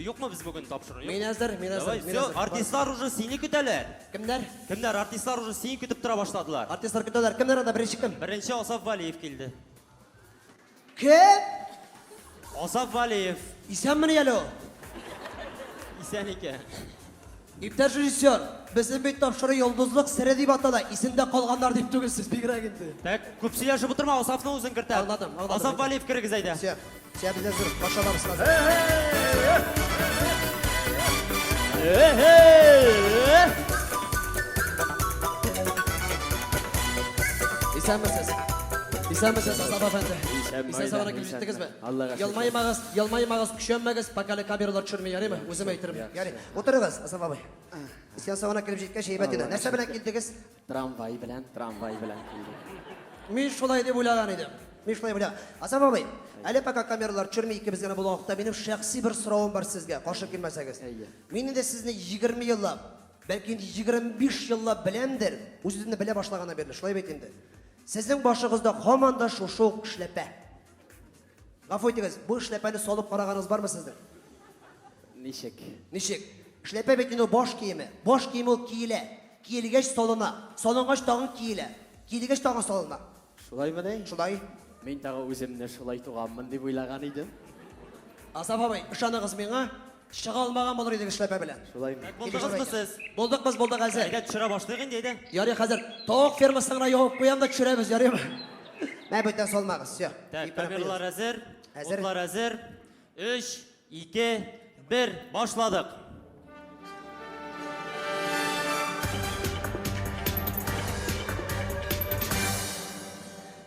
Юкмы без бүген тапшыру? Мин әзер, мин әзер, Давай, мин все, әзер. артистлар уже сине көтәләр. Кемнәр? Кемнәр? Артистлар уже сине көтеп тора башладылар. Артистлар көтәләр. Кемнәр анда беренче кем? Беренче Асаф Валиев килде. Кем? Асаф Валиев. Исәнмени әле ул? Исән икән. Иптәш режиссер, безнең бит тапшыру Йолдызлык сере дип атала, исемдә калганнар дип түгел, сез бигрәк инде. Так, күп сөйләшеп утырма, Асафны үзең кертә. Аңладым, аңладым. Асаф Вәлиев керегез әйдә. Все, все без әзер, пашаларыбыз хәзер. Исәнмесез. Исәнмесез, Асаф әфәнде. Исән-сау гына Исән-сау гына, килеп исән-сау. җиттегезме? Аллага шөкер. Ялмаймагыз, ялмаймагыз, көчәнмәгез, пока әле камералар төшерми, ярыймы? Ярый. Үзем әйтермен. Яхшы. Ярый. Утырыгыз, Асаф абый. Сеанс соңына килеп җиткәч, әйбәт иде. Нәрсә белән килдегез? Трамвай белән, трамвай белән килдек. Мин шулай дип уйлаган идем. Мин шулай уйлаган. Асаф абый, әле пока камералар төшерми икебез генә булган вакытта минем шәхси бер соравым бар сезгә, каршы килмәсәгез. Әйе. Мин инде сезне 20 еллап, бәлки инде 25 еллап беләмдер, үземне белә башлаганнан бирле, шулай бит инде. Сезнең башыгызда һаман да шушы ук эшләпә. Гафу итегез, бу эшләпәне салып караганыгыз бармы сезнең? Ничек? Ничек? Эшләпә бит инде баш киеме. Баш киеме ул киелә. Киелгәч салына. Салынгач тагын киелә. Киелгәч тагын салына. Шулаймы ни? Шулай. Мин тагы үземне шулай туганмын дип уйлаган идем. Асаф абый, ышаныгыз миңа. Чыга алмаган булыр идең эшләпә белән. Шулай бит. Булдыгызмы сез? Булдык без, булдык әзер. Әйдә, төшерә башлыйк инде, әйдә. Ярый, хәзер тавык фермасын гына ябып куям да төшерәбез, ярыймы? Мә, бүтән салмагыз, все. Так, камерлар әзер, утлар әзер. Өч, ике, бер, башладык.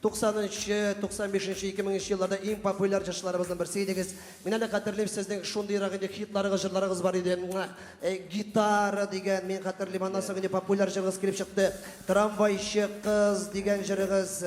Туксанынчы, туксан бишенче, ике меңенче елларда иң популяр җырчыларыбызның берсе идегез. Мин әле хәтерлим, сезнең шундыйрак инде хитларыгыз, җырларыгыз бар иде. Гитара дигән, мин хәтерлим, аннан соң инде популяр җырыгыз килеп чыкты. Трамвайчы кыз дигән җырыгыз,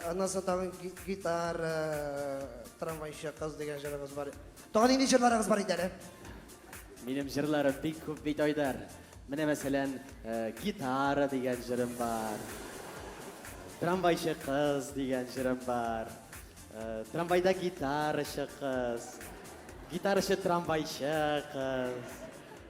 аннан соң тагын гитара, трамвайчы кыз дигән җырыгыз бар. Тагын нинди җырларыгыз бар иде әле? Минем җырларым бик күп бит, Айдар. Менә мәсәлән, Гитара дигән җырым бар. Трамвайчы кыз дигән җырым бар. Трамвайда гитарачы кыз. Гитарачы трамвайчы кыз.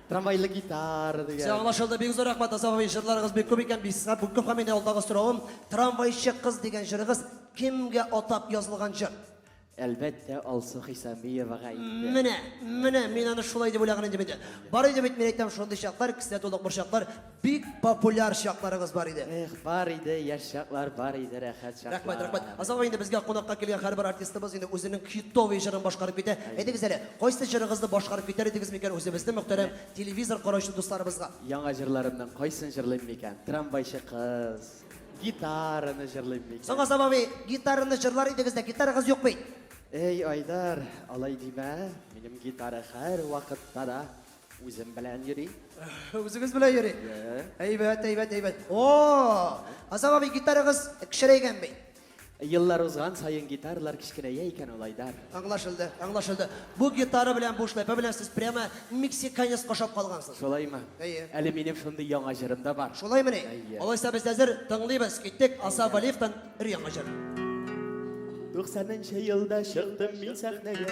Трамвайлы гитара дигән. Все аңлашылды. Бик зур рәхмәт, Асан абый. Җырларыгыз бик күп икән. Бик күп һәм мине алдагы соравым, Трамвайчы кыз дигән җырыгыз кемгә атап язылган җыр? Әлбәттә, Алсу Хисамиевага әйтте. Менә, менә, мин аны шулай дип уйлаган идем инде. Бар иде бит, мин әйтәм, шундый чаклар, кесә тулы курчаклар, бик популяр чакларыгыз бар иде. Эх, бар иде, яшь чаклар, бар иде, рәхәт чаклар. Рәхмәт, рәхмәт. Азагы инде безгә кунакка килгән һәрбер артистыбыз инде үзенең хитовый җырын башкарып китә. Әйтегез әле, кайсы җырыгызны башкарып китәр идегез микән үзебезнең мөхтәрәм телевизор караучы дусларыбызга? Яңа җырларымның кайсын җырлыйм микән? Трамвайчы кыз. Гитараны җырлыйм микән? Соңга саба би, гитараны җырлар идегез дә, гитарагыз юк бит. Эй, Айдар, алай димә. Минем гитара һәр вакытта да үзем белән йөри. Үзегез белән йөри. Әйбәт, әйбәт, әйбәт. О! Азам абый гитарагыз кешерәйгән бит. Еллар узган саен гитаралар кечкенәя икән ул, Айдар. Аңлашылды, аңлашылды. Бу гитара белән бу шляпа белән сез прямо мексиканецка ошап калгансыз. Шулаймы? Әйе. Әле минем шундый яңа җырым да бар. Шулаймыни? Әйе. Алайса без әзер тыңлыйбыз. Киттек Аса Валиевтан өр-яңа җыр. 90 нчы елда чыктым мин сәхнәгә.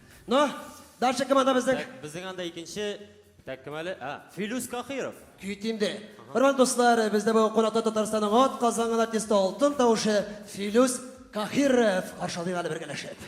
Но, дальше кем анда безнең? Так, безнең анда икенче, так, кем әле? А, Филүс Кахиров. Көй тимде. Хөрмәт дуслар, бездә бу кунакта Татарстанның ат казанган артисты алтын тавышы Филүс Кахиров каршылый әле бергәләшеп.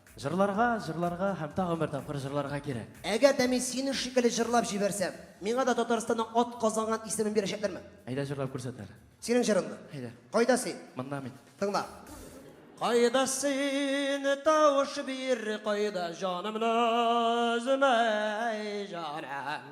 Җырларга, җырларга һәм тагын бер тапкыр җырларга кирәк. Әгәр дә мин синең шикелле җырлап җибәрсәм, миңа да Татарстанның атказанган исемен бирәчәкләрме? Әйдә җырлап күрсәт әле. Синең җырыңны. Әйдә. Кайда син? Монда мин. Тыңла. Кайда син, тавыш бир, кайда җанымны өзмә, әй җаным.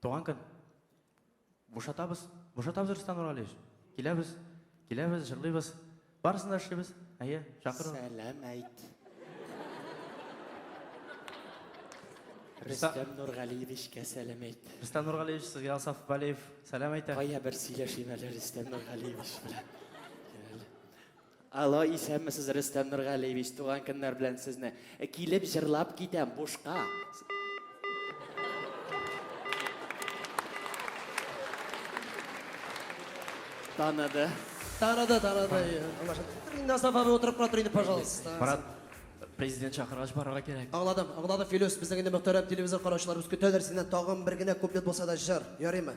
Туган көн. Бушатабыз, бушатабыз, Рөстәм Нургалиевич. Киләбез, киләбез, җырлыйбыз. Барысын да эшлибез. Әйе, чакыру. Сәлам әйт. Рөстәм Нургалиевичкә сәлам әйт. Рөстәм Нургалиевич, сезгә Асаф Валиев сәлам әйтә. Кая бер сөйләшим әле Рөстәм Нургалиевич белән. Алло, исәнмесез, Рөстәм Нургалиевич, туган көннәр белән сезне. Килеп җырлап китәм, бушка. Таныды. Таныды, таныды. Инде Асаф абый утырып кына тор инде, пожалуйста. Марат, президент чакыргач барырга кирәк. Аңладым, аңладым, Филүс, безнең инде мөхтәрәм телевизор караучыларыбыз көтәләр синнән тагын бер генә куплет булса да җыр, ярыймы?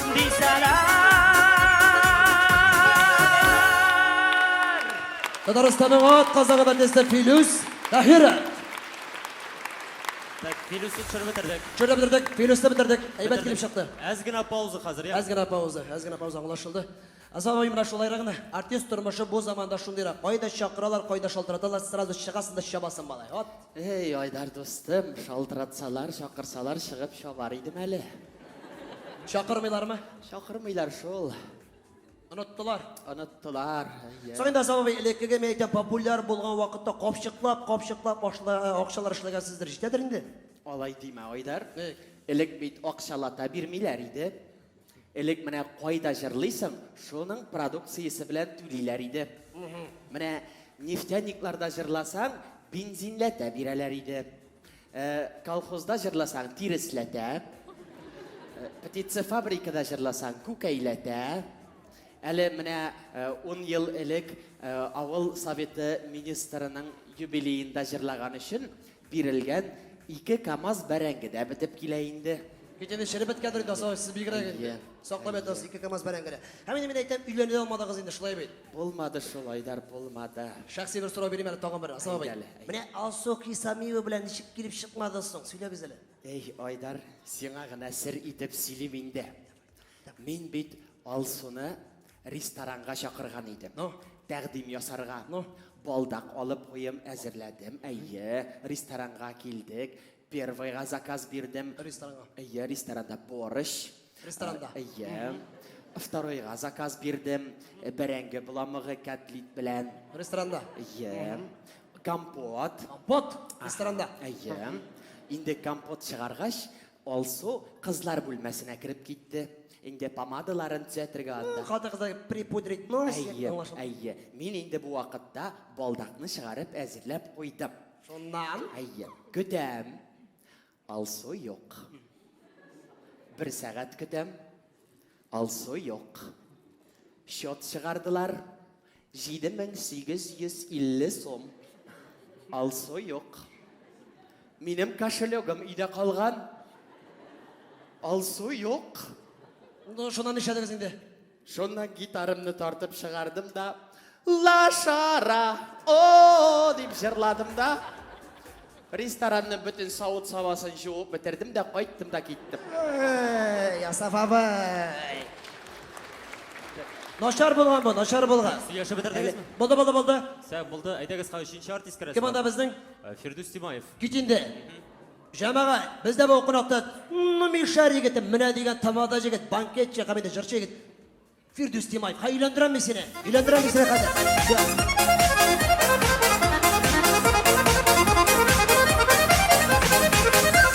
Татарстанның ат казагы бәндәсе Филүс Таһиров. Так, Филүсне төшереп бетердек. Төшереп бетердек, Филүсне бетердек. Әйбәт килеп чыкты. Әз генә пауза хәзер, я. Әз генә пауза, әз генә пауза аңлашылды. Азамай менә шулайрак гына. Артист тормышы бу заманда шундыйрак. Кайда чакыралар, кайда шалтыраталар, сразу чыгасың да чабасың, малай. Вот. Эй, Айдар дустым, шалтыратсалар, чакырсалар, чыгып чабар идем әле. Чакырмыйлармы? Чакырмыйлар шул. Оныттылар. Оныттылар. Соң инде Азап абый, элеккеге мин әйтәм, популяр булган вакытта капчыклап, капчыклап акчалар эшләгәнсездер, җитәдер инде? Алай димә, Айдар. Элек бит акчалата бирмиләр иде. Элек менә кайда җырлыйсың, шуның продукциясе белән түлиләр иде. Менә нефтяникларда җырласаң, бензинләтә бирәләр иде. Э, колхозда җырласаң, тиресләтә. Э, птицефабрикада җырласаң, күкәйләтә. Әле менә э, ун ел элек э, авыл советы министрының юбилеенда җырлаган өчен Бирелгән ике камаз бәрәңге дә бетеп килә инде. Бит инде череп беткәндер инде, Асылай, сез бигрәк инде. Әйе, Саклап әйе. ятасыз ике камаз бәрәңге дә. Һәм инде мин әйтәм, өйләнә дә алмадыгыз инде, шулай бит? Булмады шул, Айдар, булмады. Шәхси бер сорау бирим әле тагын бер, Асылай Әйдә абый. әле, әйдә. Менә Алсу Хисамиева белән ничек килеп чыкмады соң? Сөйләгез әле. Әй, Айдар, сиңа гына сер итеп сөйлим инде. Мин бит Алсуны ресторанга чакырган идем. Ну, тәкъдим ясарга. Ну, балдак алып куем әзерләдем. Әйе, ресторанга килдек. Первыйга заказ бирдем. Ресторанга. Әйе, ресторанда борщ. Ресторанда. Әйе. Второйга заказ бирдем. Бәрәңге буламыгы котлет белән. Ресторанда. Әйе. Компот. Компот. Ресторанда. Әйе. Инде компот чыгаргач, Алсу кызлар бүлмәсенә кереп китте. Инде помадаларын төзәтергә анда. Хатын-кызлар припудрить нос. Әйе, әйе. Мин инде бу вакытта балдакны чыгарып әзерләп куйдым. Шуннан? Әйе. Көтәм. Алсу юк. Бер сәгать көтәм. Алсу юк. Счет чыгардылар. 7850 сум. Алсу юк. Минем кошелегым өйдә калган. Алсу юк. Ну, шуннан нишләдегез инде? Шуннан гитарамны тартып чыгардым да, Ла шара о дип җырладым да, ресторанның бөтен савыт-сабасын җуып бетердем дә кайттым да киттем. Эй, Асаф абый. Начар булган бу, начар булган. Сөйләшеп бетердегезме? Булды, булды, булды. Сәү булды. Әйдәгез, ха, өченче артист керәсе. Кем анда безнең? Э, Фирдүс Тимаев. Кит инде. Җәмәгать, бездә бу кунакта ну мишәр егетем, менә дигән тамада егет, банкетчы һәм инде җырчы егет. Фирдүс Тимаев, ха өйләндерәм мин сине. Өйләндерәм мин сине хәзер.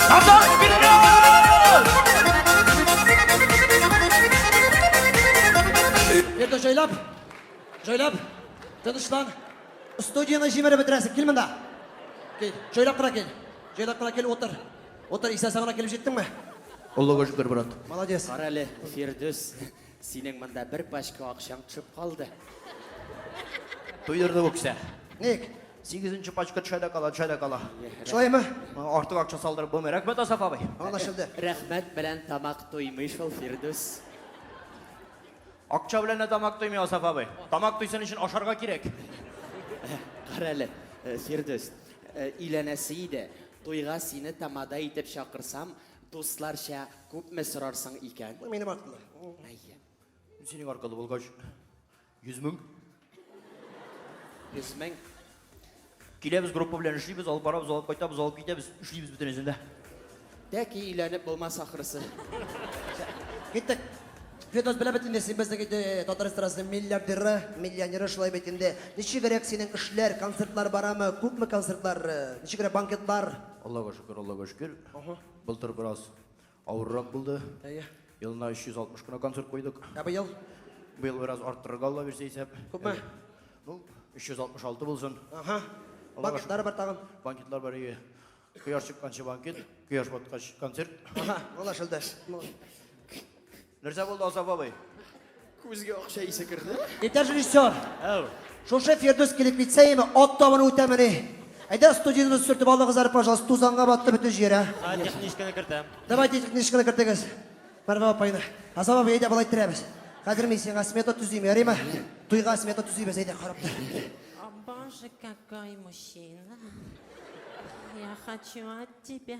Назар Фирдүс! җайлап, җайлап, тынычлан. Студияне җимереп бетерәсең, кил монда. Кил, җайлап кына кил. Җайлап кына кил, отыр. Отыр, исән сагына килеп җиттеңме? Олыга шөкер, брат. Молодец. Кара әле, Фирдүс. Синең монда бер пачка акчаң төшеп калды. Туйдырды бу кеше. Ник? Сигезенче пачка төшә дә кала, төшә дә кала. Шулаймы? Артык акча салдырып булмый. Рәхмәт, Асаф абый. Анлашылды. Рәхмәт белән тамак туймый шул, Фирдүс. Акча белән дә тамак туймый, Асаф абый. Тамак туйсын өчен ашарга кирәк. Кара әле, э, Фирдүс, э, өйләнәсе иде. Туйга сине тамада итеп чакырсам, Дусларча күпме сорарсың икән? Бу минем хакымда. Әйе. Синең аркылы булгач, йөз мең. Йөз мең. Киләбез группа белән эшлибез, алып барабыз, алып кайтабыз, алып китәбез, эшлибез бөтенесен дә. Тәки өйләнеп булмас ахрысы. Киттек. Фирдос белә бит инде, син безнең инде татар эстрадасының миллиардеры, миллионеры шулай бит инде. Ничегрәк синең эшләр, концертлар барамы? Күпме концертлар, ничегрәк банкетлар? Аллага шөкер, Аллага шөкер. Ага. Былтыр бераз авыррак булды. Әйе. Елына 360 кына концерт куйдык. Ә быел? Быел бераз арттырырга Алла бирсә исәп. Күпме? Э, ну, 366 булсын. Ага. Банкетлар бар тагын. Банкетлар бар ие. Кояш чыкканчы банкет, кояш баткач концерт. Ага, молодец, Элдаш. Нәрсә булды, Азап абый? Күзгә акча исе керде. Итәр режиссер. Әу. Шушы Фирдүс килеп китсә име, ат табыны үтәмени? Әйдә студиябез сүртеп алдыгыз әле, пожалуйста, тузанга батты бөтен җирә. Ә техничканы кертәм. Давайте техничканы кертегез. Мәрвә апайны. Азап абый, әйдә болай терәбез. Хәзер мин сиңа смета төзим, ярыймы? Туйга смета төзибез, әйдә карап тор. О, боже, какой мужчина. Я хочу от тебя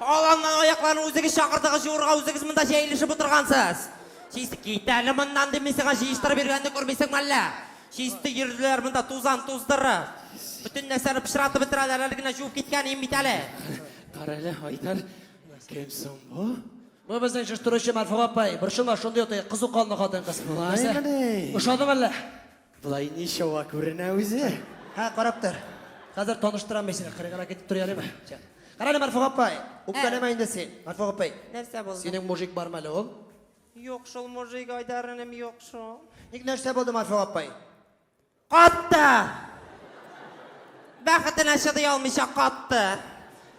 Аланнан аякларны үзегез чакырдыгыз җуырга, үзегез монда җәелешеп утыргансыз. Чист кит әле моннан дими сиңа җыештырып йөргәнне күрмисеңме әллә? Чисте йөрделәр монда тузан туздырып. Бөтен нәрсәне пычратып бетерәләр, әле генә җуып киткән ием бит әле. Кара әле, Айдар, кем соң бу? Бу безнең җыштыручы Марфуга апай. Борчылма, шундый ут, кызу канлы хатын-кыз. Шулаймыни? Ошадымы әллә? Болай ничава күренә үзе. Һә, карап тор. Хәзер таныштырам мин сине, кырыгына китеп тор әлеме? Чак. Кара әле, Марфуга апай, үпкәләмә инде син. Марфуга апай, Нәрсә булды? синең мужик бармы әле ул? Юк шул мужик Айдарыным юк шул. Ник нәрсә булды, Марфуга апай? Катты! Бәхетенә чыдый алмыйча катты.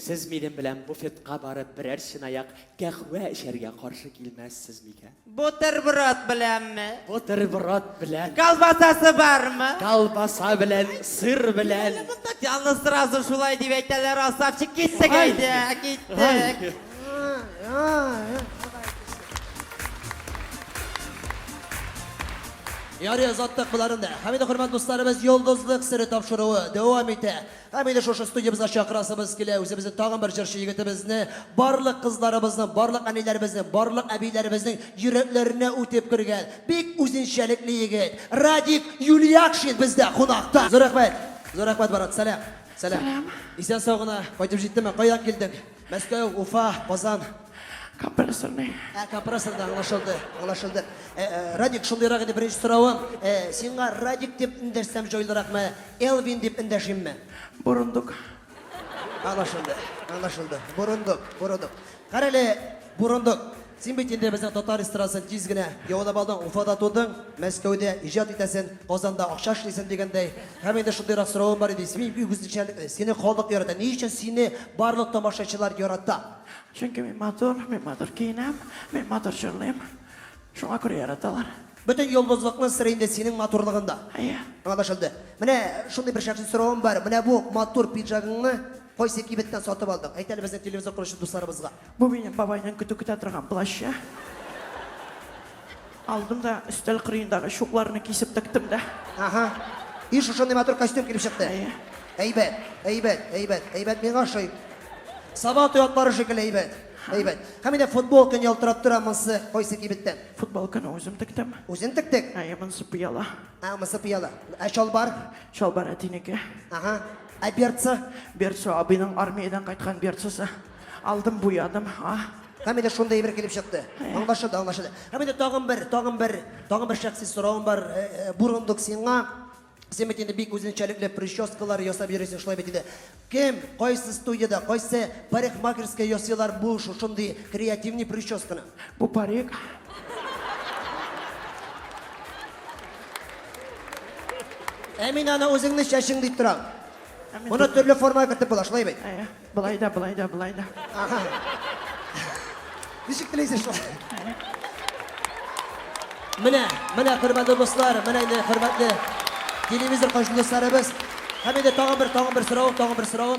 Сез минем белән буфетка барып берәр чынаяк кәхвә эчәргә каршы килмәссез микән? Бутерброд беләнме? Бутерброд белән. Колбасасы бармы? Колбаса белән, сыр белән. Аны сразу шулай дип әйтәләр, Асавчик, киттек әйдә, киттек. Ярый, озаттык боларын да. Хәмидә, хөрмәт дусларыбыз, йолдызлык сере тапшыруы дәвам итә. Һәм инде шушы студиябезгә чакырасыбыз килә үзебезнең тагын бер җырчы егетебезне, барлык кызларыбызның, барлык әниләребезнең, барлык әбиләребезнең йөрәкләренә үтеп кергән бик үзенчәлекле егет, Радик Юльякшин бездә кунакта! Зур рәхмәт! Зур рәхмәт, брат! Сәлам! Сәлам! Исән-сау гына кайтып җиттеңме? Кайдан килдең? Мәскәү, Уфа, Казан. Компрессорный. Ә, компрессорда аңлашылды, аңлашылды. Ә, ә, Радик, шундыйрак иде беренче соравым. Ә, сиңа Радик дип эндәшсәм җайлыракмы, Элвин дип эндәшимме? Борындык. Аңлашылды, аңлашылды. Борындык, борындык. Карале, борындык. Син бит инде безнең татар эстрадасын тиз генә яулап алдың, Уфада тудың, Мәскәүдә иҗат итәсен, Казанда акча эшлисен дигәндәй. Һәм инде шундыйрак соравым бар иде, син бик үзенчәлекле, сине халык ярата, ни өчен сине барлык тамашачылар ярата? Чөнки мин матур, мин матур киенәм, мин матур җырлыйм, шуңа күрә яраталар. Бөтен йолдызлыкның сыры инде синең матурлыгында. Әйе. Аңлашылды. Менә шундый бер шәхси соравым бар, менә бу матур пиджагыңны Кайсы кибеттән сатып алдың? Әйт әле безнең телевизор коручы дусларыбызга. Бу минем бабайның көтү көтә торган плащы. Алдым да өстәл кырыендагы чукларны кисеп тектем дә. Аһа. И шушындый матур костюм килеп чыкты. Әйе. Әйбәт, әйбәт, әйбәт, әйбәт миңа ошый. Саба той атлары шикелле әйбәт. Әйбәт. Һәм инде футбол көн ялтырап тора, монсы кайсы кибеттән? Футбол көне үзем тектем. Үзең тектек? Әйе, монсы пыяла. А, монсы пыяла. Ә чалбар? Чалбар әтинеке. Аһа. Ә берцы? Берцы абыйның армиядән кайткан берцысы. Алдым, буядым. А? Һәм инде шундый әйбер килеп чыкты. Аңлашылды, аңлашылды. Һәм инде тагын бер, тагын бер, тагын бер шәхси соравым бар. Э, э, Бурындык сиңа. Син бит инде бик үзенчәлекле прическалар ясап йөрисең, шулай бит инде. Кем, кайсы студияда, кайсы парикмахерская ясыйлар бу шушындый креативный прическаны? Бу парик. Ә мин аны үзеңне чәчең дип торам. Моны төрле формага кертеп була, шулай бит. Ә, Болай да, болай да, болай да. Ага. Ничек теләйсез шулай? Менә, менә хөрмәтле дуслар, менә инде хөрмәтле телевизор каршы дусларыбыз. Һәм инде тагын бер, тагын бер сорау, тагын бер сорау.